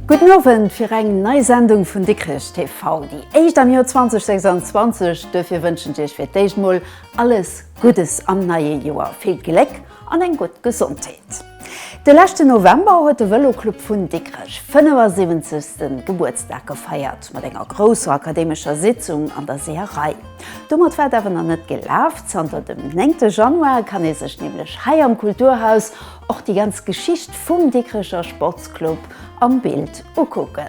Gudden Owend fir eng nei Sendung vun Dikrech TV, déi éischt am Joer 2026. Duerfir wënschen ech Iech fir d'éischt mol alles Guddes am neie Joer, vill Gléck an eng gutt Gesondheet. De leschten November huet de Vëloclub vun Dikrech 75. Gebuertsdag gefeiert, mat enger grousser akademescher Sitzung an der Seeërei. Domat war et awer nach net gelaf, zanter dem 9 Januar kann ee sech nämlech hei am Kulturhaus och déi ganz Geschicht vum Dikrecher Sportsclub am Bild ukucken.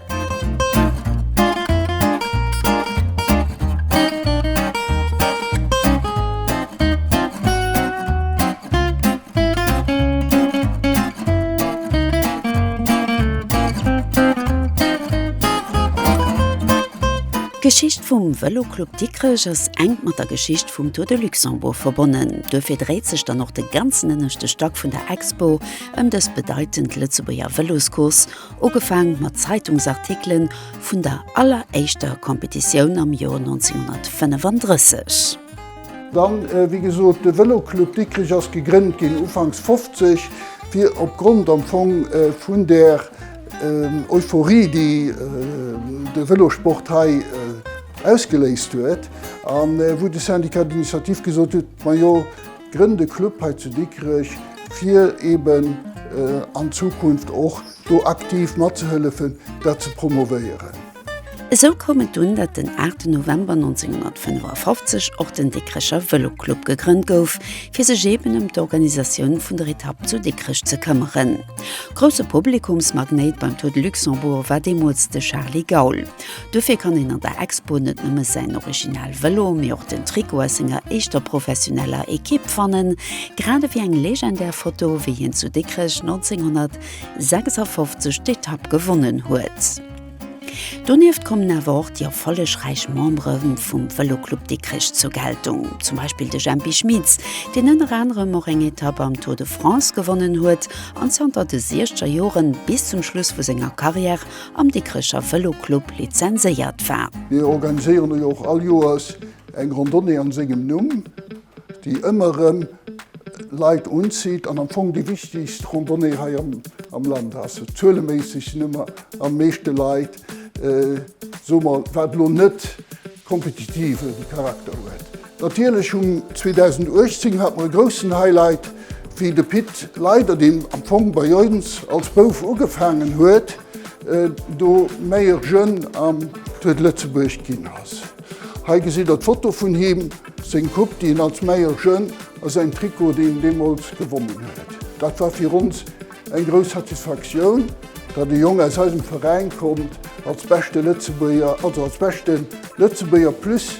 D'Geschicht vum Vëloclub Dikrech ass enk mat der Geschicht vum Tour de Luxembourg verbonnen. Duerfir dréit sech dann och de ganzen ënneschte Stack vun der Expo ëm dës bedeitend Lëtzebuerger Vëloscourse, ugefaang mat Zeitungsartikelen vun der alleréischter Competitioun am Joer 1935. Dann, wéi gesot, de Vëloclub Dikrich ass gegrënnt ginn ufanks 50, fir opgrond am Fong vun där Euphorie, déi de Vëlosport hei ausgeléist huet, an wou de Syndicat d'initiative gesot huet, majo, Grënnt e Club hei zu Dikrech, fir eben an Zukunft och do aktiv matzehëllefen, dat ze promovéieren. Esou koum et dunn, datt den 8 November 1955 och den Dikrecher Vëloclub gegrënnt gouf, fir sech eben ëm d'Organisatioun vun der Etapp zu Dikrech ze këmmeren. Grousse Publikumsmagnéit beim Tour de Luxembourg war deemools de Charly Gaul. Dofir kann een an der Expo net nëmme säin original Vëlo, mee och den Trikot aus senger éischter professioneller Ekipp fannen, grad ewéi eng legendär Foto, wéi hien zu Dikrech 1956 d'Etapp gewonnen huet. Donieft kommen awer och déi erfollegräich Membere vum Vëloclub Dikrech zur Geltung, zum Beispill de Jempi Schmitz, deen ënner anerem och eng Etapp am Tour de France gewonnen huet an zanter de Siechzerjoren bis zum Schluss vu senger Karriär am Dikrecher Vëloclub lizenséiert war. Mir organiséieren elo och all Joers eng Randonnée an sengem Numm, déi ëmmer erëm Leit unzitt an am Fong déi wichtegst Randonnée hei am Land ass. Zueleméisseg sinn ëmmer am meeschte Leit, soe mer, wat elo net. kompetitiven Charakter huet. Natierlech um 2018 hat mer e groussen Highlight, wéi de Pit Leyder, deen am Fong bei ons als Bouf ugefaangen huet, do Meilleur Jeune am Tour de Lëtzebuerg ginn ass. Hei gesitt der d'Foto vun him, seng Coupe, déi en als Meilleur Jeune a säin Trikot, deen en deemools gewonnen huet. Dat war fir ons Eng grouss Satisfaktioun, datt e Jong aus eisem Veräin kommt als beschte Lëtzebuerger, also als beschte Lëtzebuerger plus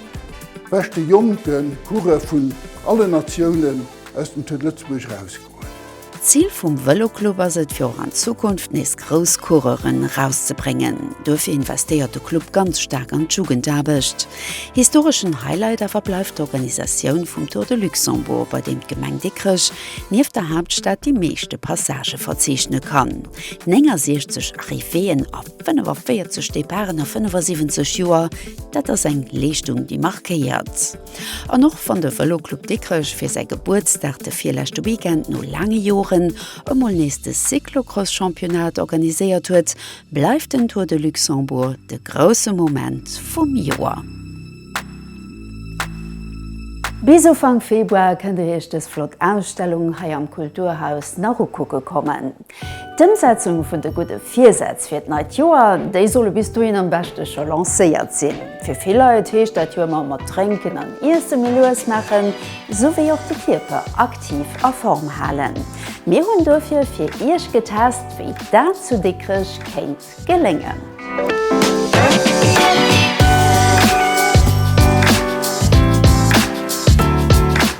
beschte jonke Coureur vun allen Natiounen aus dem Tour de Lëtzebuerg erausgoen. D'Zil vum Vëloclub ass et, fir och an Zukunft nees grouss Coureuren erauszebréngen. Duerfir investéiert de Club ganz staark an d'Jugendaarbecht. Historeschen Highlight awer bleift d'Organisatioun vum Tour de Luxembourg, bei deem d'Gemeng Dikrech Nieft der Haaptstad déi meeschte Passagë verzeechne kann, 69 Arrivéeën a 45 Departen a 75 Joer, dat ass eng Leeschtung, déi markéiert. An och wann de Vëloclub Dikrech fir säi Gebuertsdag de virleschte Weekend no laange Joren emol nees de Cyclocross-Championnat organiséiert huet, bleift den Tour de Luxembourg de grousse Moment vum Joer. Bis Ufank Februar kënnt Dir Iech dës flott Ausstellung hei am Kulturhaus nach ukucke kommen. D'Ëmsetzung vun de gudde Virsätz fir d'neit Joer, déi solle bis dohin am beschte scho lancéiert sinn. Fir vill Leit heescht dat jo ëmmer mat Drénken an Iesse méi lues maachen, sou wéi och de Kierper aktiv a Form halen. Mir hunn dofir fir Iech getest, wéi dat zu Dikrech kéint geléngen.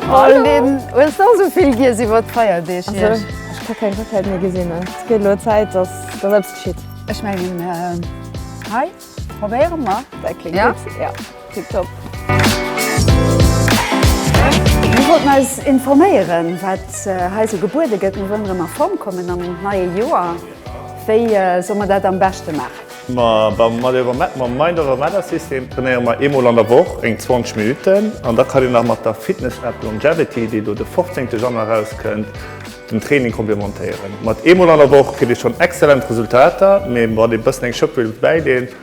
Hallo! Hues de och esou vill giess iwwer d'Feierdeeg hierch? Ech ka keng Raclette méi gesinn. Et gëtt elo Zäit, datt eppes geschitt. Ech mengen, hei probéiere mer. Dat kléngt gutt, jo. Tiptop. Mir wollten eis informéieren, wat hei esou gebuede gëtt. Mir wëllen erëm a Form kommen am neie Joer. Wéi solle mer dat am beschte maachen? Ma beim MindOverMatterSystem trainéiere mer eemol an der Woch, eng 20 Minutten. An da kann een nach mat der Fitness-App Longevity, déi elo de 15. Januar erauskënnt, den Training komplementéieren. Mat eemol an der Woch kritt ee schonn exzellent Resultater, mee wann ee bëssen eng Schëpp wëllt bäileen,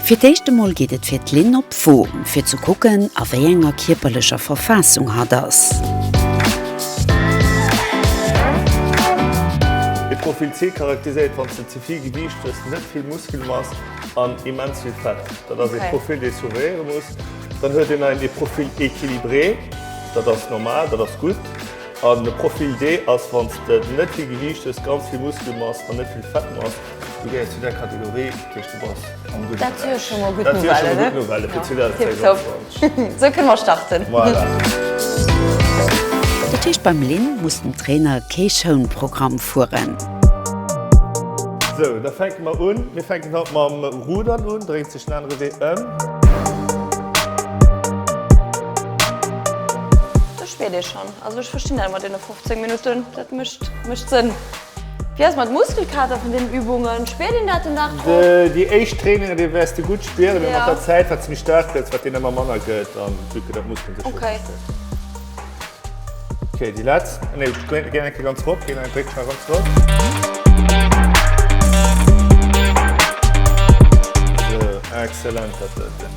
Fir d'éischt emol geet et fir d'Lynn op Wom, fir ze kucken, a wéi enger kierperlecher Verfaassung hatt ass. E Profil C charakteriséiert, wann s de ze vill Gewiicht hues, net vill Muskelmass an immens vill Fett. Dat ass e Profil, dee surveilléiere muss. Dann huet een nach e Profil équilibré, dat ass normal, dat ass gutt. An e Profil D ass, wann s de net vill Gewiicht hues, ganz vill Muskelmass an net vill Fettmass. Du gehéiers zu där Kategorie, dat heescht, du bass am gudde Beräich. Dat wier scho mol gutt Nouvelle fir 2026. Sou kënne mer starten. Dat heescht, beim Lynn muss den Trainer kee Schounprogramm fueren. Sou, da fänke mer un. Mir fänken haut mam Rudern un. Dréint sech den anere Wee ëm. Do spiert ee schonn. Also ech verstinn dat mat deene 15 Minutten, dat mécht Sënn. Wéi ass et mat Muskelkater vun den Übungen? Spiert een dat den Dag drop? Déi éischt Trainingen, déi wäers de gutt spieren, mee mat der Zäit, wat s méi staark gëtt, wat deen ëmmer manner gëtt an esou gëtt dat Muskelen sech gewinnt gëtt. Ok, déi letzt, nee, geng eng Kéier ganz rop ginn, dréck schnell ganz rop. Esou, excellent, dat sollt sinn.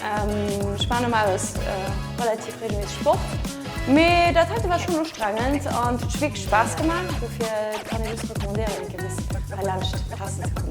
Ech maan normales relativ regelméisseg Sport, mee dat heite war schon ustrengend an et huet wierklech Spaass gemaach, dofir kann ech just recommandéieren eng Kéier bis heilaanscht testen ze kommen.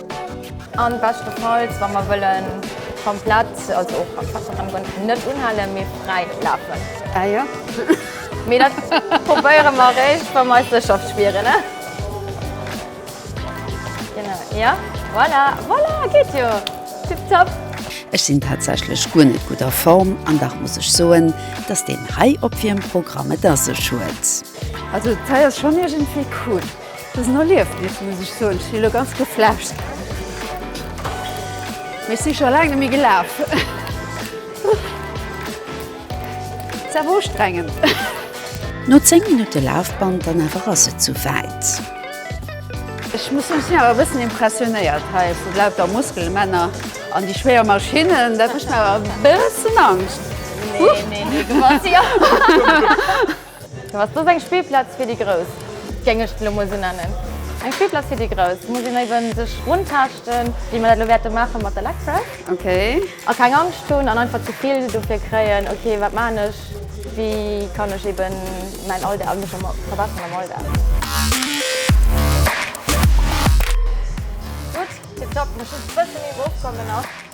An beschtenfalls, wa mer wëllen komplett, also och am Fachtergrond, net unhalen, mee fräi lafen. Ah jo. Mee dat probéiere mer eréischt, wa mer eis sécher spieren, ne? Genau, jo. Voilà, voilà, geet jo. Tip top. Ech sinn tatsächlech guer net gutt a Form, an dach muss ech soen, dass deen hei op wiem Programm et a sech huet. Also d'Zei ass schonn iergendwéi cool. Et ass en Erliefnis, muss ech soen. Ech sinn elo ganz geflasht. Mee ech si scho laang net méi gelaf. Ass awer ustrengend. No 10 Minutte Lafband dann awer ass et sou wäit. Ech muss soen, ech sinn awer e bëssen impressionéiert hei vu lauter Muskelmänner an déi schwéier Maschinnen. Dat mécht mer awer e bëssen Angscht. Huch! Dofir ass dës eng Spillplaz fir déi Grouss, géing ech se elo mol esou nennen. Eng Spillplaz fir déi Grouss. Do muss een éiwe sech runtaaschten, wéi mer dat elo wäerte maache mat der Lecraft. Ok. A keng Angscht hunn an einfach ze vill dofir kréien, ok, wat maachen ech, wéi kann ech eebe mäin Alldag a mech verbesseren am Alldag. Gutt, tipptopp. Muss just e bësse méi erofkommen nach.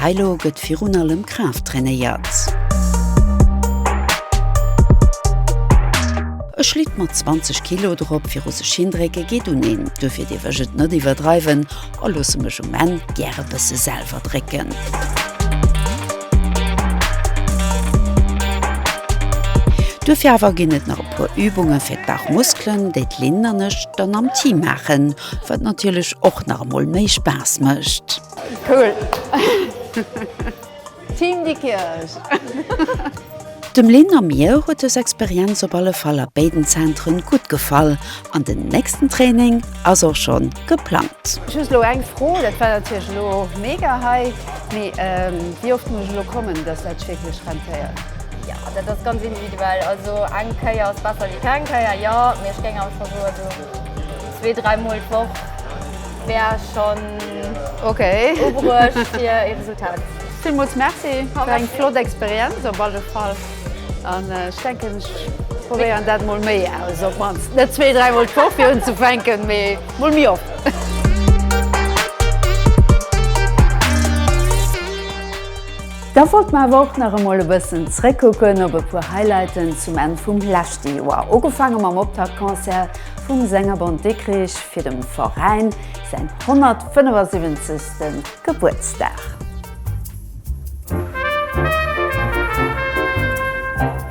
Hei lo gëtt virun allem Kraaft trainéiert. E Schlitt mat 20 Kilo drop viru sech hindrécke geet un een, duerfir dierf ech et net iwwerdreiwen a loosse mech um Enn gär e bësse selwer drécken. Duerfir awer ginn et nach e puer Übunge fir d'Bauchmuskelen, déi d'Lynn an ech dann am Team maachen, wat natierlech och nach emol méi Spaass mécht. Cool! Team Dikrech! Dem Lynn a mir huet dës Experienz op alle Fall a béiden Zentren gutt gefall an den nächsten Training ass och schon geplangt. Ech hu elo eng Fro, dat war natierlech elo mega hei, mee wéi oft muss ech elo kommen, dass dat sech wierklech rentéiert? Jo, dat ass ganz individuell. Also eng Kéier ass besser wéi keng Kéier, jo, mee ech géing awer scho soen, esou. Zwee, dräi Mol d'Woch wär schonn okay. ubruecht fir e Resultat. Villmools Merci fir eng flott Experienz op alle Fall. An ech denken, ech probéieren dat mol méi aus, op d'mannst net zwee, dräi Mol d'Woch fir unzefänken, mee mol méi oft. Da wollte mer awer och nach emol e bëssen zréckkucken op e puer Highlighten zum Enn vum leschte Joer. Ugefaange mam Optaktconcert vum Sängerbond Dikkrich fir dem Veräin säin 175. Gebuertsdag.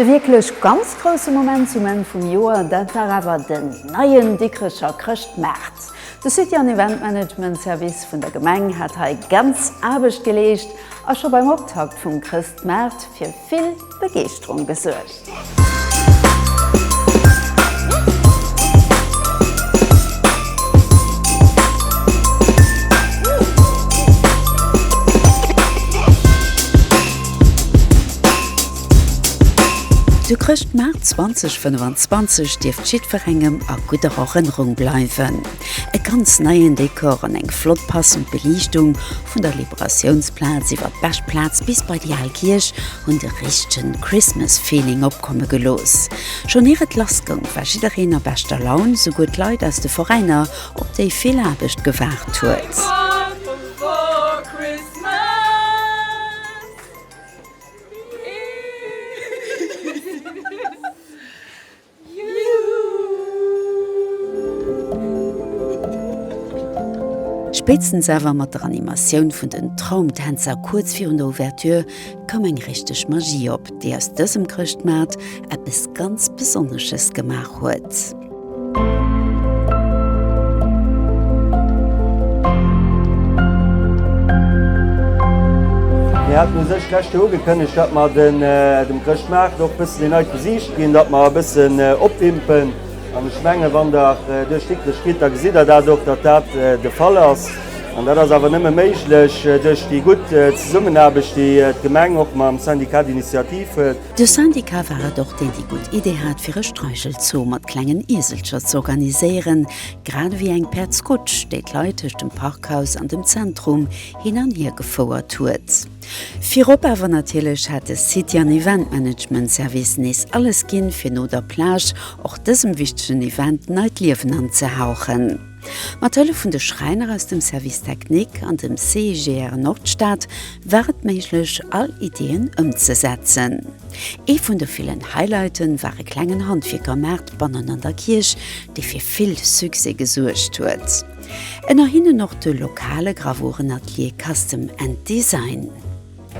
De wierklech ganz grousse Moment zum Enn vum Joer, dat war awer den neien Dikrecher Chrëschtmaart. De City an Event Management Service vun der Gemeng hat hei ganz Aarbecht geleescht a scho beim Optakt vum Chrëstmaart fir vill. Begeeschterung gesuergt. Zu Chrëschtmaart 2025 dierft jiddwerengem a gudder Erënnerung bleiwen. E ganz neien Dekor an eng flott passend Beliichtung, vun der Liberatiounsplaz iwwer d'Beschplaz bis bei déi al Kierch, hunn de richtegen Christmas Feeling opkomme gelooss. Schonn ier et lass goung, war jiddereen a beschter Laun, souguer d'Leit aus de Veräiner, op déi vill Aarbecht gewaart huet. Spéitstens awer mat der Animatioun vun den Traumtänzer kuerz virun der Ouverture koum eng richteg Magie op, déi aus dësem Chrëschtmaart eppes ganz Besonnesches gemaach huet. Versicht ginn, datt mer e bëssen opwimpen. An ech menge wann Der duerch d'Dikkrech gitt, da gesitt Der dat och, datt dat de Fall ass. An dat ass awer nëmme méiglech duerch déi gutt Zesummenaarbecht, déi d'Gemeng och mam Syndicat d'initiative huet. De Syndicat war et och, deen déi gutt Idee hat, fir e Streichelzoo mat klengen Ieselcher ze organiséieren, grad ewéi eng Päerdskutsch, déi d'Leit tëscht dem Parkhaus an dem Zentrum hin an hier gefouert huet. Virop awer natierlech hat de City an Event Management Service nees alles ginn, fir no der Plage och dësem wichtegen Event neit Liewen anzehauchen. Mat Hëllef vun de Schräiner aus dem Service Technique an dem CIGR Nordstad war et méiglech, all Ideeën ëmzesetzen. Ee vun de villen Highlighte war e klengen Handwierkermaart bannen an der Kierch, dee fir vill Succès gesuergt huet. Ënner hinnen och de lokale Gravurenatelier Custom and Design.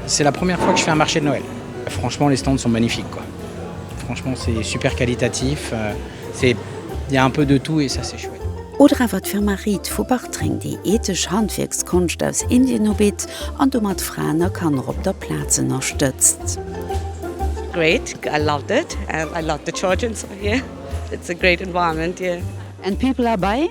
C'est la première fois que je fais un marché de Noël. Franchement les stands sont magnifiques quoi. Franchement c'est super qualitatif, c'est il ya un peu de tout et ça c'est chouette. Oder awer d'Firma Reed vu Bartreng, déi ethesch Handwierkskonscht aus Indien ubitt an domat Fraen a Kanner op der Plaz ënnerstëtzt. Great, I loved it, I love the children here, it's a great environment here. And people are buying?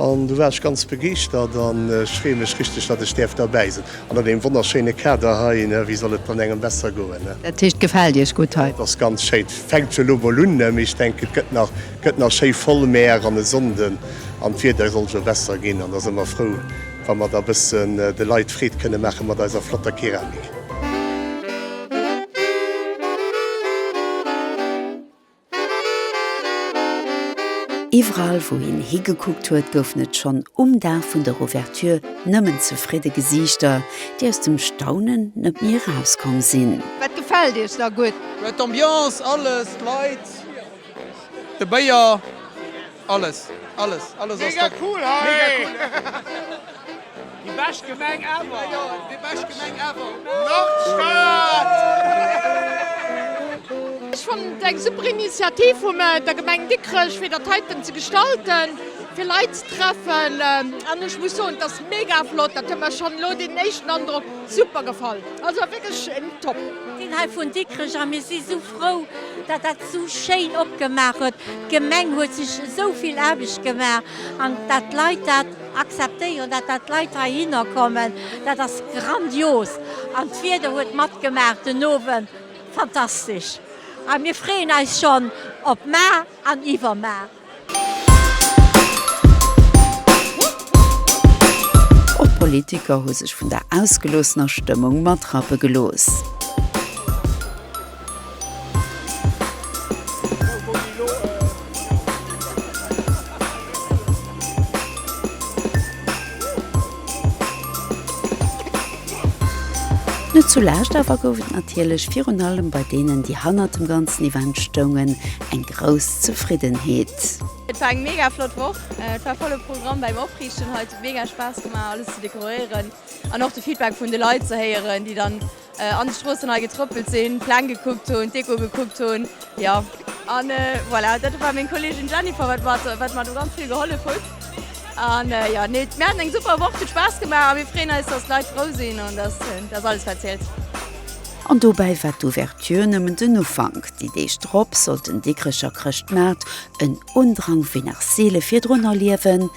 An du war ech ganz begeeschtert an ech freeë mech richteg, datt ech däerf derbäi sinn an an deem wonnerschéine Kader hei. Wéi soll et dann engem besser goen? Dat heescht, et gefält Iech gutt hei? Et ass ganz schéi. Fänkt jo elo mol un, mee ech denken, et gëtt nach, gëtt nach schéi voll. Mäer an e Sonnden an d'Wieder soll jo besser ginn an da si mer frou, wa mer da bëssen de Leit Freed kënne maache mat eiser flotter Keramik. Iwwerall wou hien higekuckt huet, goufen et schonn um Dag vun der Ouverture nëmmen zefridde Gesiichter, déi aus dem Staunen net méi erauskomm sinn. Wat gefält Iech da gutt? D'Ambiance, alles, d'Leit, de Béier. Alles alles alles ass mega cool hei! Mega cool hei! Déi bescht Gemeng ever! Majo déi bescht Gemeng ever! Nordstad! Ech fannen et eng super Initiativ vum der Gemeng Dikrech fir dat heiten ze gestalten, fir Leit ze treffen an ech muss soen et ass mega flott, dat huet mer schonn elo deen éischten Androck super gefall. Also wierklech top! Sinn hei vun Dikrech a mir si sou. frou, datt dat esou schéin opgemaach huet. D'Gemeng huet sech esou vill Aarbecht gemaach an datt d'Leit dat akzeptéieren, datt dat d'Leit heihinner kommen, dat ass grandios. An d'Wieder huet matgemaach den Owend, fantastesch. A mir freeën eis schonn op mar an iwwermar. Och d'Politiker hu sech vun der ausgeloossener Stëmmung matrappe gelooss. Net zu Laascht awer gouf et natierlech virun allem bei deenen, déi hannert dem ganzen Event stoungen, eng grouss Zefriddenheet. Et war eng mega flott Woch, et war volle Programm bäim Opriichten hei. Et huet mega Spaass gemaach alles ze dekoréieren an och de Feedback vun de Leit ze héieren, déi dann An de Stroossen hei getrëppelt sinn, d'Pläng gekuckt hunn, d'Deko gekuckt hunn, jo. An voilà, dat war meng Kolleegin Jennifer, wat mer, wat mer do ganz vill gehollef hutt. An jo, nee, mir haten eng super Woch, et huet Spaass gemaach a mir freeën eis, dass d'Leit frou sinn an dass dass alles wat zielt. An dobäi war d'Ouverture nëmmen den Ufank, déi Deeg drop sollt den Dikrecher Chrëschtmaart en Undrang wéi nach seele virdrun erliewen.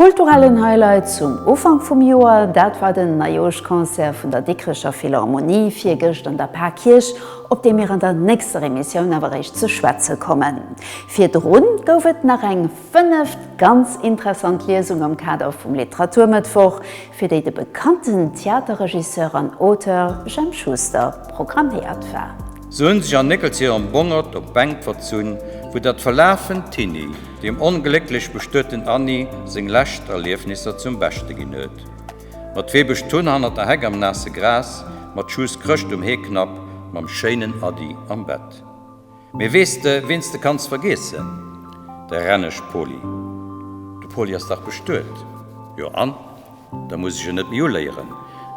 Kulturellen Highlight zum Ufank vum Joer, dat war den Neijooschconcert vun der Dikrecher Philharmonie virgëscht an der Pakierch, op dee mir an der nächster Emissioun awer eréischt ze schwätze kommen. Virdru gouf et nach eng fënneft ganz interessant Liesung am Kader vum Literaturmëttwoch, fir déi de bekannten Theaterregisseur an Auteur Jemp Schuster programméiert war. Soen sech an Néckelzéi an Bongert op d'Bänk verzunn, wou dat verlaafent Tinni deem onglécklech bestueten Anni seng lescht Erliefnisser zum Beschte ginn huet. Mat Wee Bësch d'Hunn hannert der Heck am naasse Gras, mat Schuss Chrëscht um Heeknapp, mam schéinen Ady am Bett. Mee weess de, ween s de kanns vergeessen? De Renneg Poli. De Poli ass dach bestuet, jo an? Da muss ech en net méi uléieren.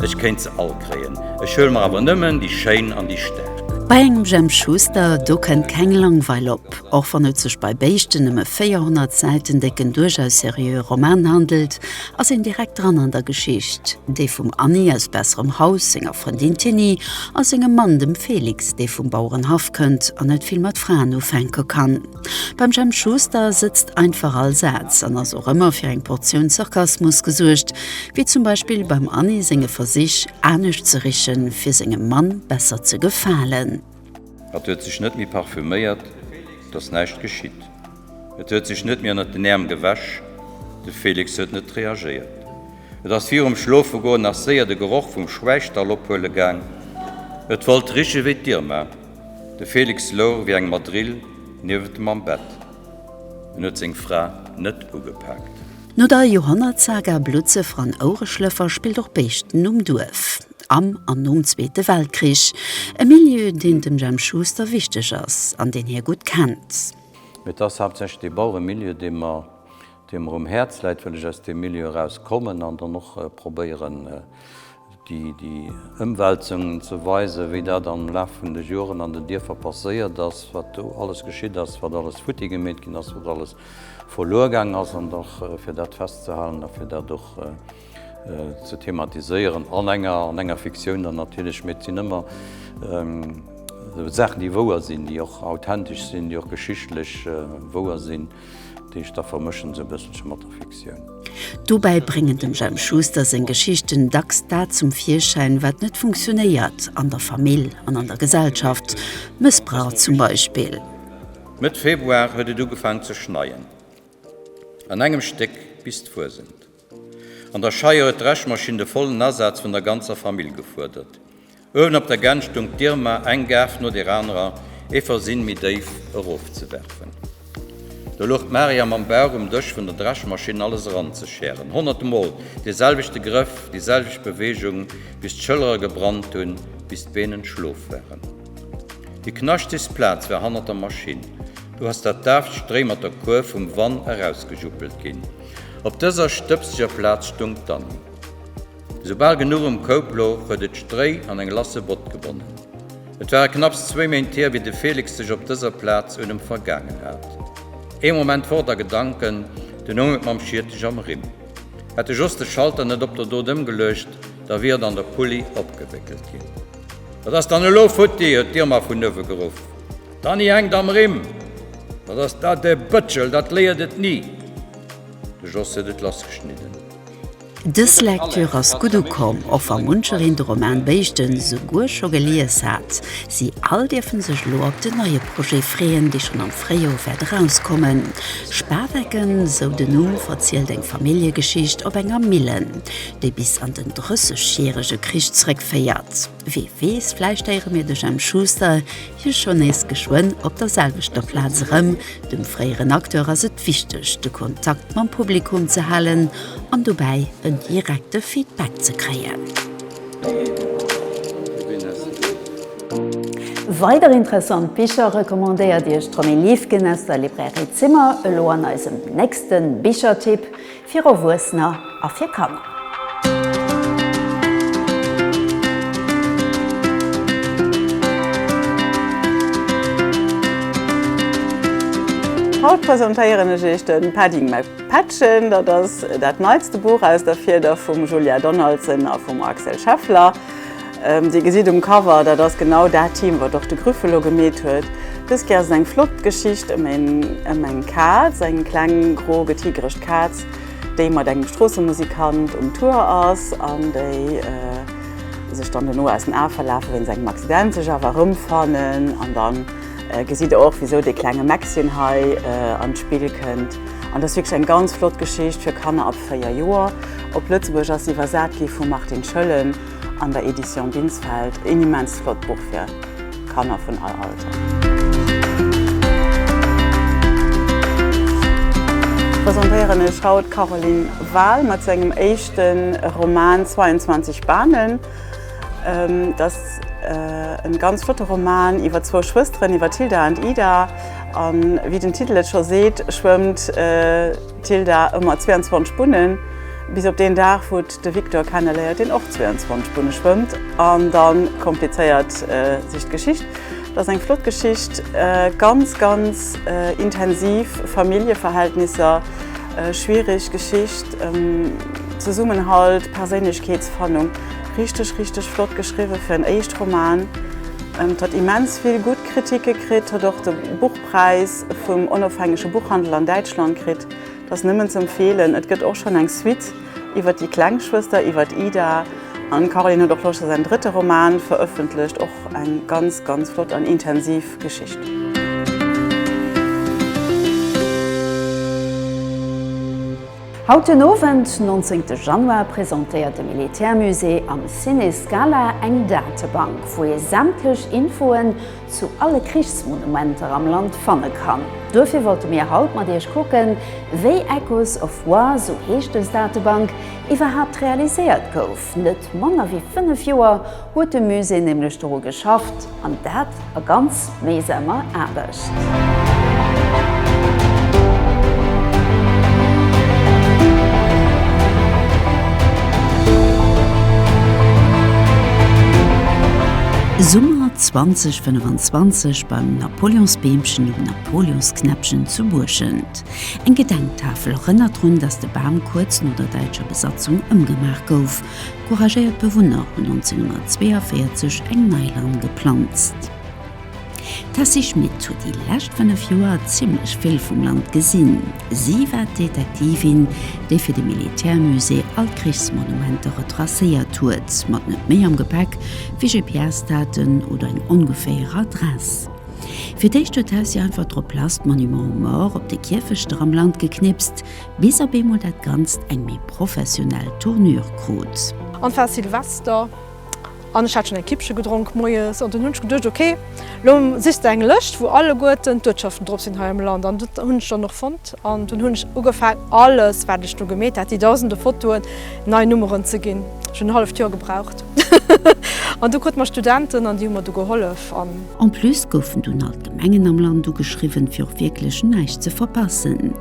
Ech kéint se all kréien. Ech huele mer awer nëmmen déi schéin an déi staark. Bei engem Jemp Schuster, do kënnt keng Langweil op. Och wann et sech bei béischten nëmme 400 Säiten décken duerchaus seriöe Roman handelt, ass een direkt dran an der Geschicht, déi vum Anni aus besserem Haus, senger Frëndin Tinni a sengem Mann, dem Felix, dee vum Bauerenhaff kënnt an net vill mat Fraen ufänke kann. Beim Jemp Schuster sëtzt einfach all Saz an ass och ëmmer fir eng Portioun Sarkasmus gesuergt, wéi zum Beispill beim Anni senge Versich, anescht ze richen, fir sengem Mann besser ze gefalen. Et huet sech net méi parfüméiert, 't ass näischt geschitt. Et huet sech net méi ënnert den Äerm gewäsch, de Félix huet net reagéiert. Et ass virum Schlofegoen nach séier de Geroch vum Schwäichstall ophuele gaang, et wollt riche wéi d'Irma. De Felix louch wéi eng Madrill niewent em am Bett. En huet seng Fra net ugepaakt. No der Joerhonnertsaga Blutzëffer an Oureschlëffer spillt och Béischten um Duerf am an nom Zweete Weltkrich, e Milieu, deen dem Jemp Schuster wichteg ass an deen hie gutt kennt. Mee et ass haaptsächlech dee Baueremilieu, dee mer Déi mer um Häerz läit, wëll ech aus deem Milieu eraus kommen an dann och probéieren, déi Ëmwälzungen ze weisen, wéi dat am Laf vun de Joren an den Dierfer passéiert ass, wat do alles geschitt ass, wat alles futti gemeet ginn ass, wat alles verluer gaang ass, an dach fir dat festzehalen a fir dat och, ze thematiséieren an enger an enger Fiktioun dann natierlech, mee et sinn ëmmer Saachen, déi wouer sinn, déi och authentesch sinn, déi och geschichtlech wouer sinn, déi ech da vermëschen esou e bësselche mat der Fiktioun. Dobäi bréngen dem Jemp Schuster seng Geschichten dacks dat zum Virschäin, wat net funktionéiert an der Famill an an der Gesellschaft, Mëssbrauch zum Beispill. Mëtt Februar huet et ugefaangen ze schneien, an engem Stéck bis d'Fuesent. An der Scheier huet d'Dreschmaschinn de vollen Asaz vun der ganzer Famill gefuerdert. Uewen op der Gänt stung d'Irma, eng Gaarf no der anerer, ee Versinn méi déif erofzewerfen. Do louch d'Maria mam Bauch um Dësch vun der Dreschmaschinn, alles eranzeschären. Honnert Mol dee selwechte Grëff, déi selwecht Beweegung, bis d'Schëllere gebrannt hunn, bis d'Been entschlof waren. Déi knaschtechst Plaz war hannert der Maschinn. Do ass dat daaft Stréi mat der Kuerf vum Wann erausgejuppelt ginn. Op dëser stëbseger Plaz stung d'Anni. Soubal genuch um Koup louch, huet et d'Stréi an eng lasse Bott gebonnen. Et ware knapps zwéi Méint hier, wéi de Felix sech op dëser Plaz un em vergaangen hat. Ee Moment fort a Gedanken, dunn houng et mam Schiertech am Rimm. Hätt e just de Schalter net op der Dot ëmgeluecht, da wier et an der Pulli opgewéckelt ginn. Wat ass dann elo futti? huet d'Irma vun uewe geruff. D'Annie hänkt am Rimm, Dat ass dat e Bëtschel, dat léiert et ni! De Jos huet et lassgeschnidden. Dës Lecture ass gutt ukomm, och wa munchereen de Roman Béischten esouguer scho gelies hat. Si all dierfen sech elo op den neie Projet freeën, dee schonn am Fréijoer wäert erauskommen. Spawecken, esou den Numm, verzielt eng Familljegeschicht op enger Millen, déi bis an den Drëssegjärege Krich zeréckféiert. Wee weess, vläicht héiere mir de Jemp Schuster jo schonn nees geschwënn op der selwechter Plaz erëm. Dem fréieren Acteur ass et wichteg, de Kontakt mam Publikum ze halen an dobäi en direkte Feedback ze kréien. Weider interessant Bicher recommandéiert Iech d'Romy Liefgen aus der Librairie Zimmer elo an eisem nächste Bichertipp. Fir Erwuessener a fir Kanner. Haut presentéieren ech Iech de Padding My Patchen. Dat ass dat neitste Buch aus der Fieder vum Julia Donaldson a vum Axel Scheffler. Dir gesitt um Cover, dat ass genau dat Team, wat och de Grüffelo gemeet huet. Dës Kéier ass et eng flott Geschicht ëm eng Kaz, eng kleng gro getigerescht Kaz, déi mat engem Stroossemusikant um Tour ass an déi sech dann dono aus den Ae verlafe wéinst engem Accident, sech awer erëmfannen. An da gesitt Der och, wisou dee klenge Maxchen hei an d'Spill kënnt. An et ass wierklech eng ganz flott Geschicht fir Kanner ab 4 Joer. Op Lëtzebuergesch ass se iwwersat gi vum Martin Schëllen. an der Edition Binsfeld een immens flott Buch fir Kanner vun all Alter. Presentéieren ech haut Caroline Wahl mat sengem éischten Roman 22 Bahnen. Dat ass en ganz flotte Roman iwwer zwou Schwësteren, iwwer Tilda an Ida. An wéi den Titel et scho seet, schwëmmt d'Tilda ëmmer 22 Bunnen, bis op deen Dag, wou. De Victor kenneléiert, deen och 22 Bunne schwëmmt, an da komplizéiert sech d'Geschicht. Dat ass eng flott Geschicht, ganz, ganz intensiv Familljeverhältnisser, schwiereg Geschicht, Zesummenhalt, Perséinlechkeetsfannung. Richteg, richteg flott geschriwwe fir en Éischt-Roman. Et huet immens vill gutt Kritike kritt, huet och de Buchpräis vum onofhängege Buchhandel an Däitschland kritt. Dat ass nëmmen z'empfeelen. Et gëtt och schonn eng Suite. Iwwer déi kleng Schwëster, iwwer d'Ida. An d'Caroline huet och loscht a säin drëtte Roman verëffentlecht. Och eng ganz, ganz flott an intensiv Geschicht. Haut den Owend, 19 de Januar, presentéiert de Militärmusée am Ciné Scala eng Datebank, wou ee sämtlech Infoen zu alle Krichsmonumenter am Land fanne kann. Duerfir wollte mir haut mat iech kucken, wéi Echoes of War, sou heescht dës Datebank, iwwerhaapt realiséiert gouf. Net manner wéi 5 Joer huet de Musée nämlech doru geschafft, an dat a ganz méisamer Aarbecht. Summer 2025 beim Napoleonsbeemchen um Napoleonsknäppchen zu Buerschent. Eng Gedenktafel erënnert drun, datt de Bam kuerz no der däitscher Besatzung ëmgemaach gouf. Couragéiert Bewunner hunn 1942 eng nei Lann geplanzt. D'Tessy Schmit huet déi lescht 5 Joer zimmlech vill vum Land gesinn. Si war d'Detektivin, déi fir de Militärmusée all d'Krichsmonumenter retracéiert huet. Mat net méi am Gepäck Wéi GPS-Daten oder eng ongeféier Adress. Fir d'éischt huet d'Hausier einfach drop lass d'Monuments aux Morts op de Kierfechter am Land geknipst, bis op eemol dat Ganzt eng méi professionell Tournure krut. An et war Silvester an ech hat schonn eng Kippche gedronk moies an dunn hunn ech geduecht, ok, lo sichs de eng Lëscht, wou alleguerten d'Uertschaften drop sinn hei am Land. An dat hunn ech dann och fonnt an dunn hunn ech ugefaangen, alles, wat ech do gemeet hat, déi dausende Fotoen, nei Nummeren ze ginn. Ech hunn en halleft Joer gebraucht. An du krut mer Studenten an déi hu mer du gehollef an. En plus goufen dunn all d'Gemengen am Land ugeschriwwen, fir och wierklech näischt ze verpassen.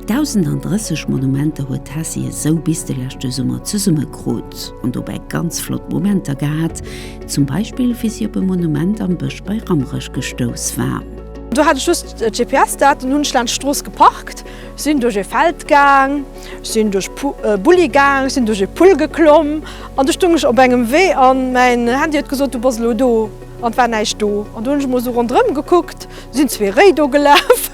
1.030 Monumenter huet d'Hessie esou bis de leschte Summer zesummekrut an dobäi ganz flott Momenter gehat, zum Beispill wéi si op e Monument am Bësch bei Rammerech gestouss war. Do hat ech just GPS-Daten, hunn ech laanscht d'Strooss geparkt. Sinn duerch e Feld gaang, sinn duerch Bulli gaang, sinn duerch e Pull geklomm an du stung ech op engem Wee an mäin Handy huet gesot, du bass elo do an et war näischt do. An du hunn ech emol esou ronderëm gekuckt, du sinn zwee Réi do gelaf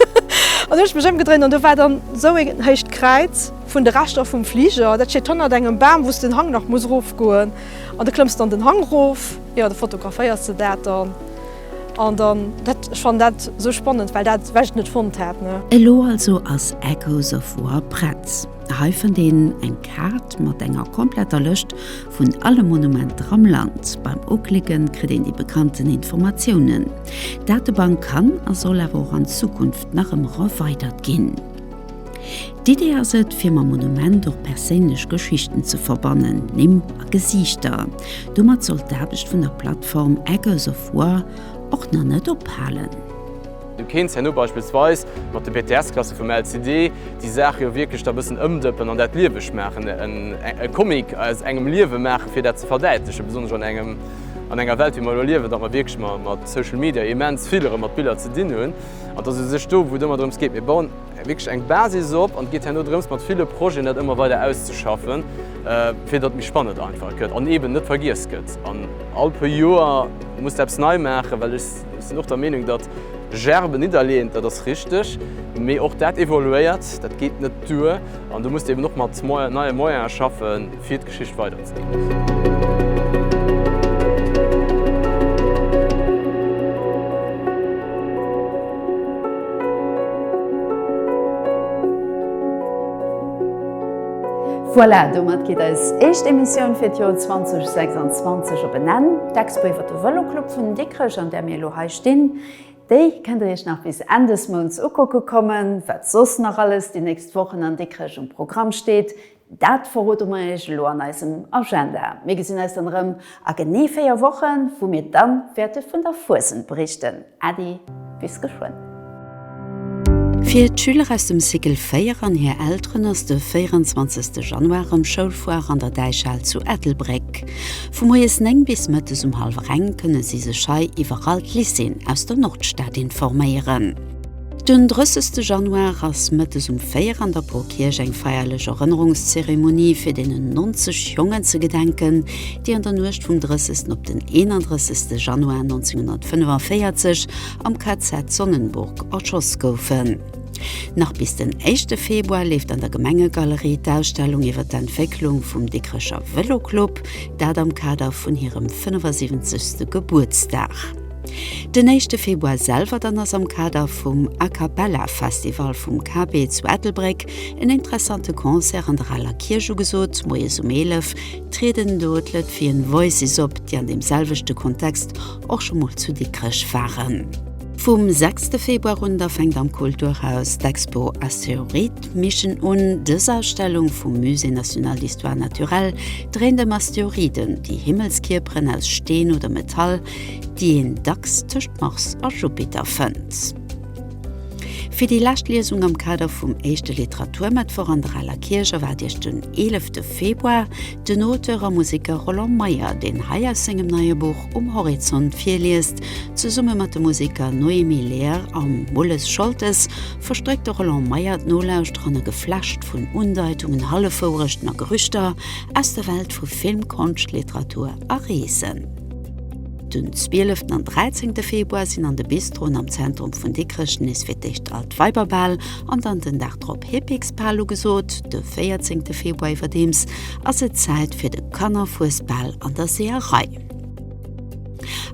an hunn ech mech ëmgedréint an do war dann esou en héicht Kräiz vun de Reschter vum Fliger, dat steet hannert engem Bam, wou s den Hang nach muss erofgoen an du klëmms dann den Hang erof, jo da fotograféiers de dat dann. An dann, dat, ech fannen dat sou spannend, well dat well ech net fonnt hat, ne. Elo also ass Echoes of War prett. Hei fënnt een eng Kaart mat enger kompletter Lëscht vun alle Monumenter am Land. Beim uklicken kritt een déi bekannten Informatiounen. D'Datebank kann a soll awer och an Zukunft nach ëm erweidert ginn. D'Idee ass et, fir mam Monument och perséinlech Geschichten ze verbannen, Nimm a Gesiichter. Domat soll d'Aarbecht vun der Plattform Echoes of War och nach net ophalen. Du kéints herno beispillsweis mat de BTS-Klasse vum LCD déi Saache jo wierklech da bëssen ëmdëppen an dat lieweg maachen, e Comic aus engem Liewe maachen, fir dat ze verdäitlechen, besonnesch an engem, an enger Welt, wéi mer elo liewen, datt mer wierklech mat Social Media immens vill erëm mat Biller ze dinn hunn. An et ass u sech do, wou et ëmmer drëms geet, mir bauen. wierklech eng Basis op an et geet herno drëms mat ville Projeten dat ëmmer weider auszeschaffen, fir datt et méi spannend einfach gëtt an eeben net vergiess gëtt. An all puer Joer muss de eppes nei maachen, well ech sinn och der Meenung, datt Gerben nidderleeën, dat ass richteg, mee och dat evoluéiert, dat geet net duer an do muss de eeben och mat neie Moyene schaffen. fir d'Geschicht weider ze ginn. Voilà, domat geet eis éischt Emissioun fir d'Joer 2026 op en Enn. D'Expo iwwer de Vëloclub vun Dikrech, an där mir elo hei stinn, déi kënnt der iech nach bis Enn des Mounts ukucke kommen. Wat soss nach alles déi nächst Wochen an Dikrech um Programm steet, Dat verroden mer iech elo an eisem Agenda. Mir gesinn eis dann erëm a genee 4 Wochen, wou mir dann wäerte vun der Fuesent berichten. Äddi, bis geschwënn! Fir d'Schüler aus dem Cycle 4 an hir Elteren ass de 24 Januar erëm Schoulfoire an der Däichhal zu Ettelbréck. Vu moies 9 bis mëttes um hallwer eng kënne si sech hei iwwer all d'Lycéeën aus der Nordstad informéieren. Den 30 Januar ass mëttes um 4 an der Porkierch eng feierlech Erënnerungszeremonie fir deenen 90 Jongen ze gedenken, déi an der Nuecht vum 30 op den 31 Januar 1945 am KZ Sonnenburg erschoss goufen. Nach bis den éischte Februar leeft an der Gemengegalerie d'Ausstellung iwwer d'Entwécklung vum Dikrecher Vëloclub, dat am Kader vun hirem 75. Gebuertsdag. Den éischte Februar selwer dann ass am Kader vum A-Cappella-Festival vum KB zu Ettelbréck en interessante Concert an der Aler Kierch ugesot. Moies um 11 trieden do d'Lëtvian Voices op, déi an deem selwechte Kontext och scho mol zu Dikrech waren. Vum sechste Februar un da fänkt am Kulturhaus d'Expo Astéroid-Mission un. Dës Ausstellung vum Musée national d'histoire naturelle dréint ëm Asteroiden, déi Himmelskierperen aus Steen oder Metall, déi een dacks tëscht Mars a Jupiter fënnt. Fir déi lescht Liesung am Kader vum éischte Literaturmëttwoch an der Aler Kierch erwaart Iech den 11 de Februar den Auteur a Museker Roland Meyer, deen hei aus sengem neie Buch Um Horizont virliest. Zesumme mat de Museker Noémie Lehr a Mulles Scholtes verstréckt de Roland Meyer d'Nolauschterer an e Geflecht vun Undeitungen, Hallefwourechten a Gerüchter aus der Welt vu Film, Konscht, Literatur a Reesen. Den 12 an 13 Februar sinn an de Bistroen am Zentrum vun Dikrech nees fir d'éischt alt Weiberbal an dann den Dag drop Hippiksbal ugesot. De 14 Februar iwwerdeems ass et Zäit fir de Kannerfuesbal an der Seeërei.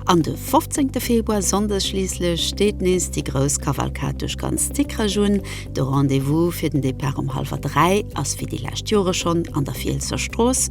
An de 15 Februar, Sonndes schliisslech, steet nees déi grouss Kavalkad duerch ganz Dikrech un. De Rendez-vous fir den Depart um hallwer 3 ass wéi déi lescht Jore schonn an der Fielsser Strooss.